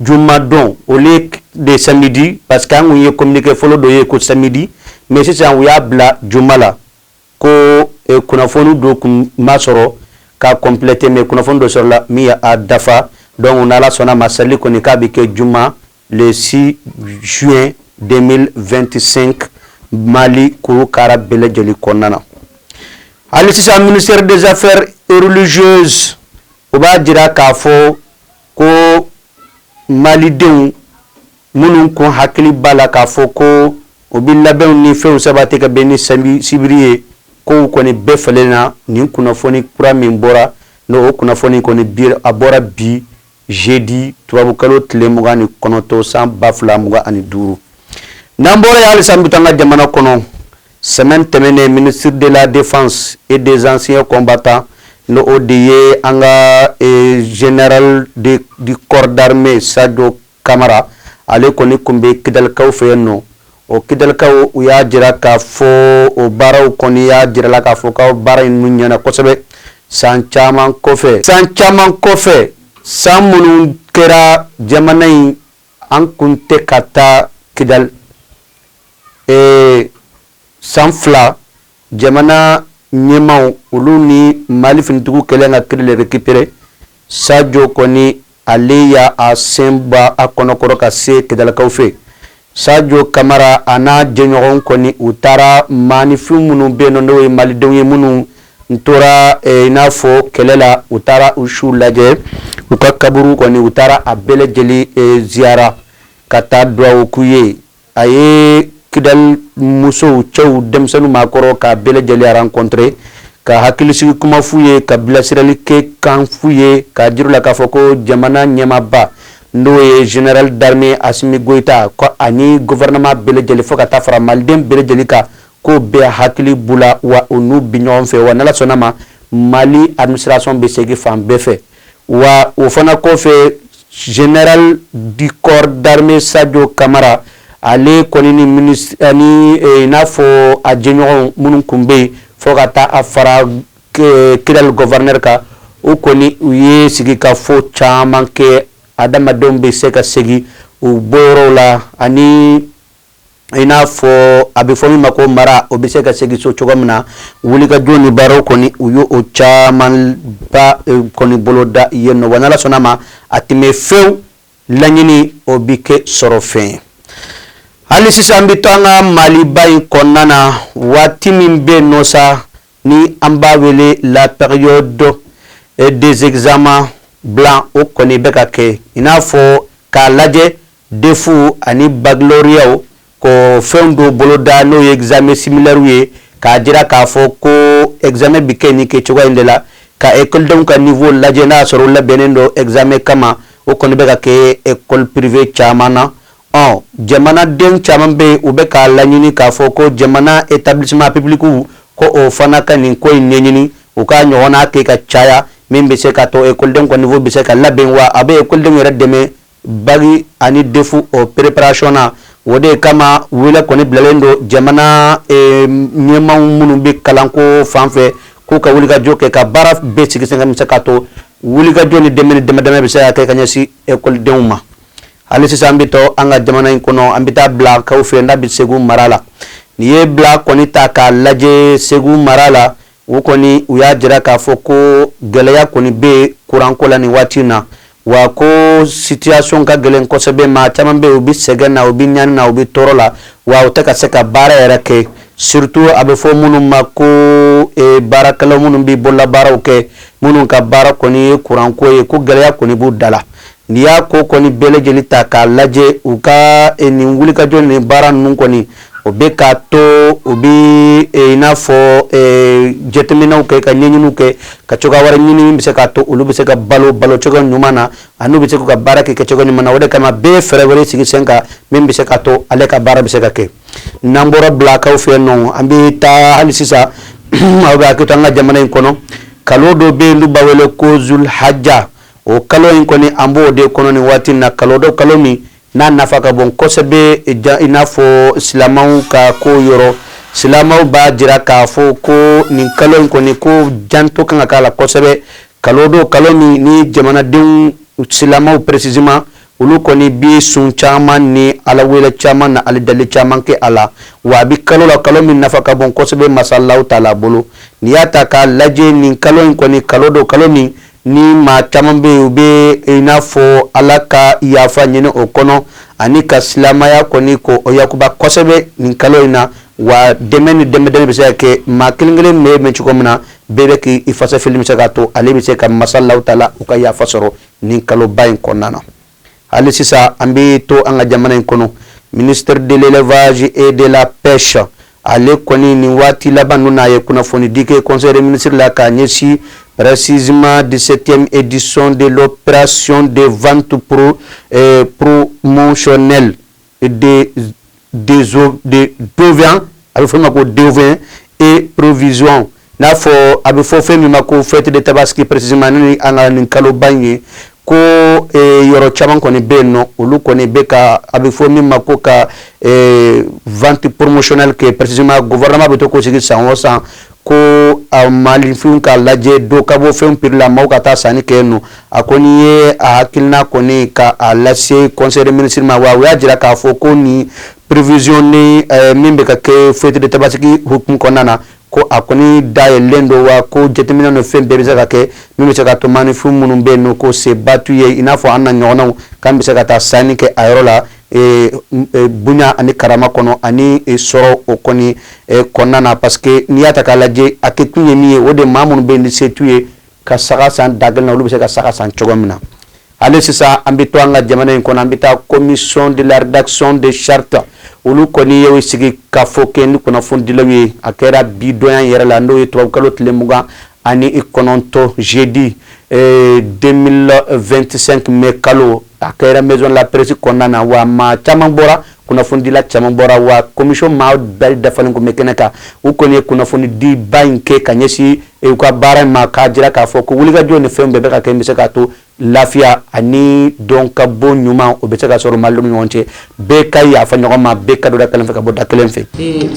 Juma dɔn au lieu de samedi parce que an kun ye communiqué fɔlɔ dɔ ye ko samedi mais sisan u y'a bila juma la ko kunnafoni dɔ kun ma sɔrɔ ka compléter mais kunnafoni dɔ sɔrɔla min ye a dafa donc n'Ala sɔnna a ma sali kɔni k'a bɛ kɛ juma le six juin deux mille vingt-cinq mali kuru kara bɛɛ lajɛlen kɔnɔna na hali sisan ministère des affaires religieuses o b'a jira k'a fɔ ko malidenw minnu kun hakili b'a la k'a fɔ ko o bɛ labɛnw ni fɛnw sabati ka bɛn ni sibiri ye kow kɔni bɛɛ falenna nin kunnafoni kura min bɔra n'o kunnafoni kɔni bi a bɔra bi jeudi tubabukalo tile mugan ni kɔnɔntɔn san ba fila mugan ani duuru n'an bɔra yen halisa an bɛ to an ka jamana kɔnɔ Semaine tɛmɛnen ministre de la défense et des anciens combattants n'o de ye an ka général du corps d'armée sajo kamara ale kɔni kun bɛ kidalikaw fɛ yen nɔ o kidalikaw u y'a jira k'a fɔ o baaraw kɔni y'a jira la k'a fɔ ka baara in ninnu ɲɛna kosɛbɛ san caman kɔfɛ san caman kɔfɛ san minnu kɛra jamana in An kun tɛ ka taa kidali ee san fila jamana ɲɛmaaw olu ni Mali finitigiw kɛlen ka Kidali récupérer sajo kɔni ale y'a sen bɔ a kɔnɔ kɔrɔ ka se kidalikaw fɛ sajo kamara a n'a jɛɲɔgɔnw kɔni u taara maaninfin minnu bɛ nɔ n'o ye malidenw ye minnu n tora eh, i n'a fɔ kɛlɛ la u taara u suw lajɛ u ka kaburu kɔni u taara a bɛɛ lajɛlen eh, ziyara ka taa duwawu k'u ye a ye kidali musow cɛw denmisɛnninw maakɔrɔ k'a bɛɛ lajɛlen rencontrer ka hakilisigi kuma f'u ye ka bilasirali kɛ kan f'u ye k'a jira la k'a fɔ ko jamana ɲɛmaaba n'o ye général d'armée asimi goyita ko ani gouvernement bɛɛ lajɛlen fo ka taa fara maliden bɛɛ lajɛlen kan ko bɛɛ hakili b'u la wa u n'u bi ɲɔgɔn fɛ wa n'Ala sɔnna ma Mali administration bɛ segin fan bɛɛ fɛ wa o fana kɔfɛ Général du corps d'armée Sadio Camara ale kɔni ni ministre ani i n'a fɔ a jɛɲɔgɔnw minnu kun bɛ yen fo ka taa a fara Kidali gouverneur kan u kɔni u ye sigikafɔ caman kɛ adamadenw bɛ se ka segin u bɔyɔrɔw la ani i n'a fɔ a bɛ fɔ min ma ko mara o bɛ se ka segin so cogo min na wulikajɔ ni baaraw kɔni u y' o camanba eh, kɔni boloda yen nɔ wa n'ala sɔnna a ma a tɛ mɛɛn fewu laɲini o bɛ kɛ sɔrɔfɛn ye hali sisan an bɛ to an ka maliba in kɔnɔna na waati min bɛ yen nɔ sa ni an b'a wele la période eh, des examens blancs o kɔni bɛ ka kɛ i n'a fɔ k'a lajɛ DEF ani baccalauréat ko fɛn dɔw boloda n'o ye examen similairew ye k'a jira k'a fɔ ko examen bɛ kɛ nin kɛcogoya in de la ka ekɔlidenw ka niveau lajɛ n'a y'a sɔrɔ u labɛnnen don examen kama o kɔni bɛ ka kɛ école privée caman na ɔ jamanaden caman bɛ yen u bɛ k'a laɲini k'a fɔ ko jamana établissements publics ko o fana ka nin ko in ɲɛɲini u k'a ɲɔgɔn kɛ ka caya min bɛ se k'a to ekɔlidenw ka niveau bɛ se ka labɛn wa a bɛ ekɔlidenw yɛrɛ dɛmɛ Bac ani DEF o préparation na o de kama wele kɔni bilalen don jamana ɲɛmaaw minnu bɛ kalanko fan fɛ k'u ka wulikajɔ kɛ ka baara bɛɛ sigi sen kan bɛ se k'a to wulikajɔ ni dɛmɛ ni dɛmɛdɛmɛ bɛ se ka kɛ ka ɲɛsin ekɔlidenw ma hali sisan an bɛ to an ka jamana in kɔnɔ an bɛ taa bilakaw fɛ n'a bɛ segu mara la n'i ye bila kɔni ta k'a lajɛ segu mara la U kɔni u y'a jira k'a fɔ ko gɛlɛya kɔni bɛ kuranko la nin waati na, wa ko situation ka gɛlɛn kosɛbɛ, maa caman bɛ yen u bɛ sɛgɛn na, u bɛ ɲani na, u bɛ tɔɔrɔ la, wa u tɛ ka se ka baara yɛrɛ kɛ surtout a bɛ fɔ minnu ma ko baarakɛlaw minnu bɛ bololabaaraw kɛ, minnu ka baara kɔni ye kuranko ye, ko gɛlɛya kɔni b'u da la. N'i y'a ko kɔni bɛɛ lajɛlen ta k'a lajɛ u ka e, nin wulikajɔ ni baara ninnu kɔni o bɛ k'a to u bɛ e, i n'a fɔ e, jateminɛw kɛ ka ɲɛɲiniw kɛ ka cogoya wɛrɛ ɲini min bɛ se k'a to olu bɛ se ka balo balo cogoya ɲuman na ani u bɛ se k'u ka baara kɛ kɛcogo ɲuman na o de kama bɛɛ ye fɛɛrɛ wɛrɛ sigi sen kan min bɛ se k'a to ale ka baara bɛ se ka kɛ n'an bɔra bilakaw fɛ yen nɔ an bɛ taa hali sisan aw ka hakɛ to an ka jamana in kɔnɔ kalo dɔ bɛ yen n'u b'a wele ko zulhaja o kalo in kɔni an b'o de kɔnɔ nin waati na kalo don kalo min n'a nafa ka bon kosɛbɛ ja i n'a fɔ silamɛw ka ko yɔrɔ silamɛw b'a jira k'a fɔ ko nin kalo in kɔni ko janto kan ka k'a la kosɛbɛ kalo don kalo min ni jamanadenw silamɛw précisément olu kɔni bi sun caman ni ala wele caman ni ala deli caman kɛ a la wa a bɛ kalo la kalo min nafa ka bon kosɛbɛ masa alahu taala bolo n'i y'a ta k'a lajɛ nin kalo in kɔni kalo don kalo min Ni maa caman bɛ yen u bɛ i n'a fɔ ala ka yafa ɲini o kɔnɔ ani ka silamɛya kɔni ko o yakuba kosɛbɛ nin kalo in na wa dɛmɛ ni dɛmɛdɛmɛ bɛ se ka kɛ maa kelen kelen bɛ min cogo min na bɛɛ bɛ k' i fasa fili min bɛ se k'a to ale bɛ se ka masa alahu taala u ka yafa sɔrɔ nin kaloba in kɔnɔna na Hali sisan an bɛ to an ka jamana in kɔnɔ, ministre de l'Élevage et de la Pêche ale kɔni nin waati laban ninnu na a ye kunnafonidi kɛ Conseil des ministres la k'a ɲɛsin précisément 17e édition de l'opération de vente promotionnelle a bɛ fɔ min ma ko d'ovins en prévision n'a fɔ a bɛ fɔ fɛn min ma ko fête de Tabaski précisément ni an ka nin kaloba in ye ko yɔrɔ caman kɔni bɛ yen nɔ olu kɔni bɛ ka a bɛ fɔ min ma ko ka vente promotionnelle kɛ précisément gouvernement bɛ to k'o sigi san o san ko maaninfin ka lajɛ dɔ ka bɔ fɛn prix la maaw ka taa sanni kɛ nɔ a kɔni ye a hakilina kɔni ka a lase Conseil des ministres ma wa u y'a jira k'a fɔ ko nin prévision nin eh, min bɛ ka kɛ fête de Tabaski hukumu kɔnɔna na ko a kɔni dayɛlɛlen don wa ko jateminɛ ni fɛn bɛɛ bɛ se ka kɛ min bɛ se k'a to maaninfin minnu bɛ yen n'o ko seba t'u ye i n'a fɔ an n'an ɲɔgɔnnaw k'an bɛ se ka taa sanni kɛ a yɔrɔ la bonya ani karama kɔnɔ ani sɔrɔ o kɔni kɔnɔna na parce que n'i y'a ta k'a lajɛ a kɛ kun ye min ye o de maa minnu bɛ ni se t'u ye ka saga san da gɛlɛn na olu bɛ se ka saga san cogo min na hali sisan an bɛ to an ka jamana in kɔnɔ an bɛ taa commission de la rédaction de charte olu kɔni ye sigikafɔ kɛ ni kunnafonidilaw ye a kɛra bi don yɛrɛ la n'o ye tubabukalo tile mugan ani i kɔnɔntɔn jeudi ee, 2025 mai kalo a kɛra maison la presse kɔnɔna na wa maa caman bɔra kunnafonidila caman bɔra wa commission maa bɛɛ dafalen tun bɛ kɛnɛ kan u kɔni ye kunnafonidiba in kɛ ka ɲɛsin u ka baara in ma k'a jira k'a fɔ ko wulikajɔ ni fɛnw bɛɛ bɛ ka kɛ bɛ se k'a to lafiya ani don ka bɔ ɲuman o bɛ se ka sɔrɔ malidenw ni ɲɔgɔn cɛ bɛɛ ka yafa ɲɔgɔn ma bɛɛ ka don da kelen fɛ ka bɔ da kelen fɛ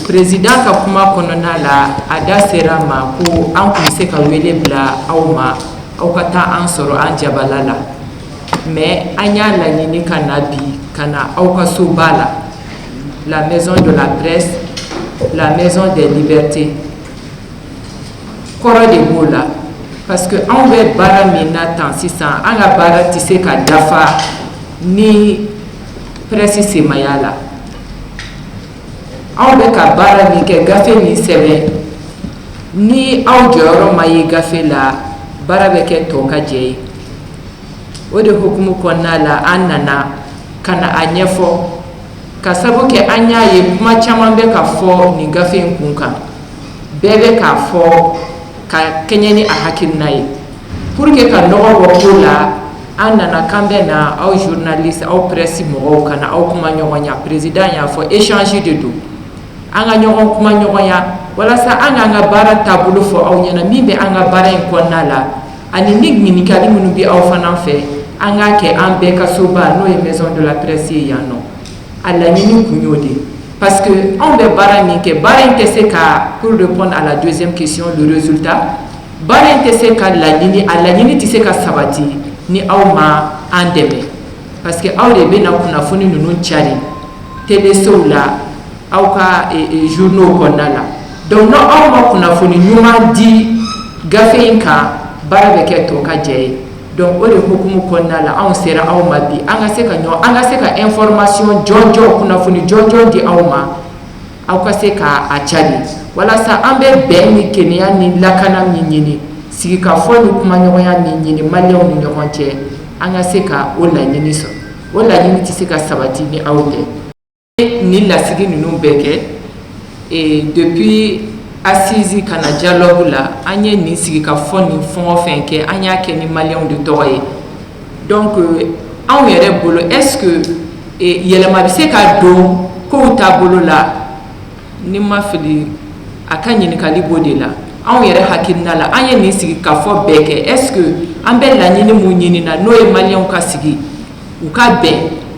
président ka kuma kɔnɔna la a da sera a ma ko an tun bɛ se ka wele bila aw ma aw ka taa an sɔrɔ an jabala la mais an y'a laɲini ka na bi ka na aw ka soba la la maison de la presse la maison des libertés kɔrɔ de b'o la parce que anw bɛ baara min na tan sisan an ka baara tɛ se ka dafa ni presse sen ma y'a la anw bɛ ka baara min kɛ gafe min sɛbɛn ni aw jɔyɔrɔ ma ye gafe la baara bɛ kɛ tɔ ka jɛ ye o de hukumu kɔnɔna la an nana ka na a ɲɛfɔ k'a sabu kɛ an y'a ye kuma caman bɛ ka fɔ nin gafe in kun kan bɛɛ bɛ k'a fɔ ka kɛɲɛ ni a hakilina ye pour que ka nɔgɔ bɔ ko la an nana k'an bɛ na aw journaliste aw presse mɔgɔw ka na aw kuma ɲɔgɔnya président y'a fɔ échange de don an ka ɲɔgɔn kuma ɲɔgɔnya walasa an k'an ka baara taabolo fɔ aw ɲɛna min bɛ an ka baara in kɔnɔna la ani ni ɲininkali minnu bɛ aw fana fɛ an k'a kɛ an bɛɛ ka soba n'o ye maison de la presse ye yan nɔ a laɲini tun y'o de ye parce que anw bɛ baara min kɛ baara in tɛ se ka pour répondre à la deuxième question le résultat baara in tɛ se ka laɲini a laɲini tɛ se ka sabati ni aw ma an dɛmɛ parce que aw de bɛna kunnafoni ninnu cari télé sow la aw ka e, e, journaux kɔnɔna la donc ni aw ma kunnafoni ɲuman di gafe in kan baara bɛ kɛ tokajɛ ye donc o de hukumu kɔnɔna la anw sera aw ma bi an ka se ka ɲɔgɔn an ka se ka information jɔnjɔn kunnafoni jɔnjɔn di aw ma aw ka se k'a a cari walasa an bɛ bɛn ni kelenya ni lakana min ɲini sigikafɔ ni kumaɲɔgɔnya min ɲini maliyɛnw ni ɲɔgɔn cɛ an ka se ka o laɲini sɔrɔ o laɲini tɛ se ka sabati ni aw tɛ nin lasigi ninnu bɛɛ kɛ e, depuis assise ka na dialogue la an ye nin sigi ka fɔ nin fɛn o fɛn kɛ an y'a kɛ ni maliyɛnw de tɔgɔ ye donc euh, anw yɛrɛ bolo est ce que e, yɛlɛma bɛ se ka don kow taabolo la ni n ma fili a ka ɲininkali b'o de la anw yɛrɛ hakilina la an ye nin sigi ka fɔ bɛɛ kɛ est ce que an bɛ laɲini mun ɲini na n'o ye maliyɛnw ka sigi u ka bɛn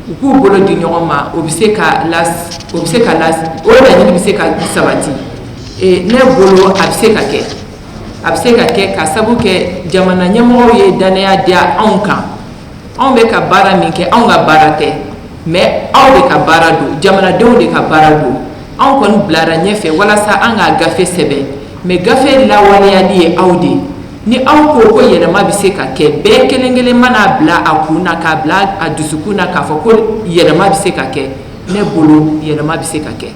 u k'u bolo di ɲɔgɔn ma o bɛ se ka o bɛ se ka o laɲini bɛ se ka sabati ne bolo a bɛ se ka kɛ a bɛ se ka kɛ k'a sabu kɛ jamana ɲɛmɔgɔw ye dannaya diya anw kan anw bɛ ka baara min kɛ anw ka baara tɛ mais aw de ka baara don jamanadenw de ka baara don anw kɔni bilara ɲɛfɛ walasa an ka gafe sɛbɛn mais gafe lawaleyali ye aw de ye Ni aw ko ko yɛlɛma bɛ se ka kɛ bɛɛ kelen kelen mana bila a kun na k'a bila a dusukun na k'a fɔ ko yɛlɛma bɛ se ka kɛ ne bolo yɛlɛma bɛ se ka kɛ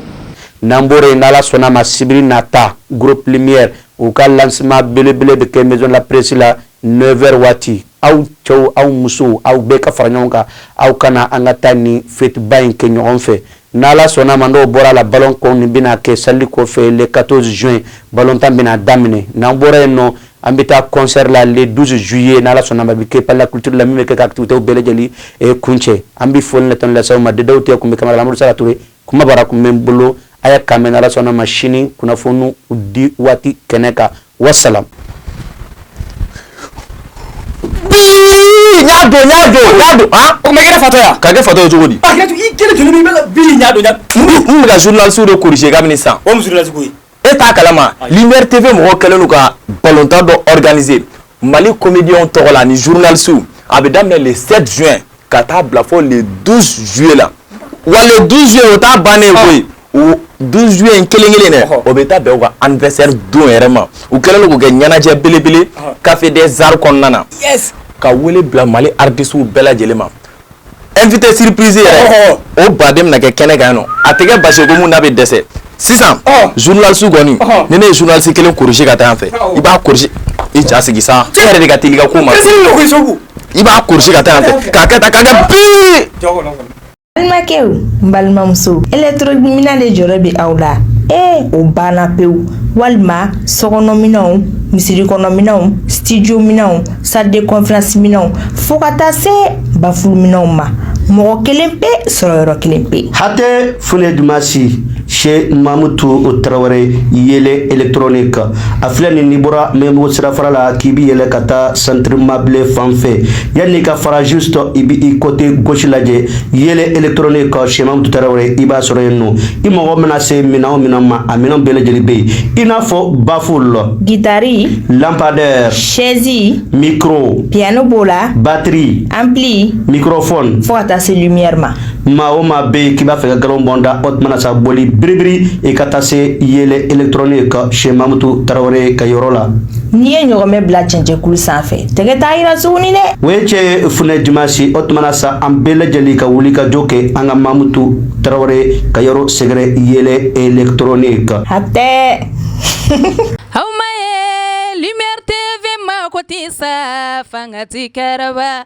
n'an bɔra yen n'ala sɔnna a ma sibiri nata groupe lumière u ka lancement belebele bɛ kɛ maison de la presse la 9 heures waati aw cɛw aw musow aw bɛɛ ka fara ɲɔgɔn kan aw ka na an ka taa nin fɛtiba in kɛ ɲɔgɔn fɛ n'ala sɔnna ma n'o bɔra la balon kɔn nin bɛna kɛ sali kɔfɛ le 14 juin balon tan bɛna daminɛ n'an bɔra yen nɔ an bɛ taa concert la le 12 juillet n'ala sɔnna ma bɛ kɛ palais la culture la min bɛ kɛ ka activités bɛɛ lajɛlen eh, kuncɛ an bɛ foli ni tanuni lase aw ma dedaw tɛ kun bɛ caméra la amadu sara ture kumabara kun bɛ n bolo a y'a k'an bɛn n'ala sɔnna ma sini kunnafoniw di waati kɛnɛ kan wasalaam. ɲa don ɲa don ɲa don han o tuma i kɛra fatɔ ye wa ka kɛ fatɔ ye cogo di a kɛra i kelen joli min bɛ ka bili ɲa don ɲa n bɛ ka journaliste de corriger kabini sisan o mun journaliste ko ye e t'a kalama Lumière TV mɔgɔw kɛlen don ka balontan dɔ organiser Mali comédiens tɔgɔ la ani journalistes a bɛ daminɛ le 7 juin ka taa bila fo le 12 juillet la wa le 12 juillet o t'a bannen koyi o 12 juillet in kelen kelen de o bɛ taa bɛn u ka anniversaire don yɛrɛ ma u kɛlen don k'o kɛ ɲɛnajɛ belebele café des arts kɔnɔna na ka wele bila Mali artistes bɛɛ lajɛlen ma invité surprise yɛrɛ o baden bɛna kɛ kɛnɛ kan yen nɔ a tɛ kɛ basi ye ko mun n'a bɛ dɛsɛ. sisan journaliste kɔni ni ne ye journaliste kelen corriger ka taa yan fɛ i b'a corriger i ja sigi sa e yɛrɛ de ka teli ka ko ma i b'a corriger ka taa yan fɛ k'a kɛ tan k'a kɛ bii balimakɛw n balimamuso électronique minɛn de jɔrɔ bɛ aw la ee o banna pewu walima sokɔnɔminɛnw misiri kɔnɔminɛnw studio minɛnw salle de conférence minɛnw fo ka taa se bafulu minɛnw ma mɔgɔ kelen pe sɔrɔ yɔrɔ kelen pe hatɛ fune dumasi Cheick mamutu tarawele yele electronique a filɛ n'i bɔra Maɲanbugu sirafara la k'i bi yɛlɛ ka taa centre Mabilé fan fɛ yanni i ka fara juste i bi i côté gauche lajɛ yele electronique Cheick mamutu tarawele i b'a sɔrɔ yen nɔ i mago mana se minɛn o minɛn ma a minɛn bɛɛ lajɛlen bɛ yen i n'a fɔ bafulu gitari lampadaire chaise micro piano b'o la batterie ampli microphone fo ka taa se lumière ma maa o maa bɛ yen k'i b'a fɛ ka nkalon bɔ n da o tuma na sa boli biribiri i ka taa se yele electronique Cheick mamutu tarawele ka yɔrɔ la. n'i ye ɲɔgɔmɛ bila cɛncɛnkulu sanfɛ tɛgɛ t'a yira tuguni dɛ. o ye cɛn ye funɛ dimansi o tuma na sa an bɛɛ lajɛlen ka wuli ka jɔ kɛ an ka mamutu tarawele ka yɔrɔ sɛgɛrɛ yele electronique. hatɛ. aw ma ye lumière tv mago tɛ sa fanga ti kɛrɛba.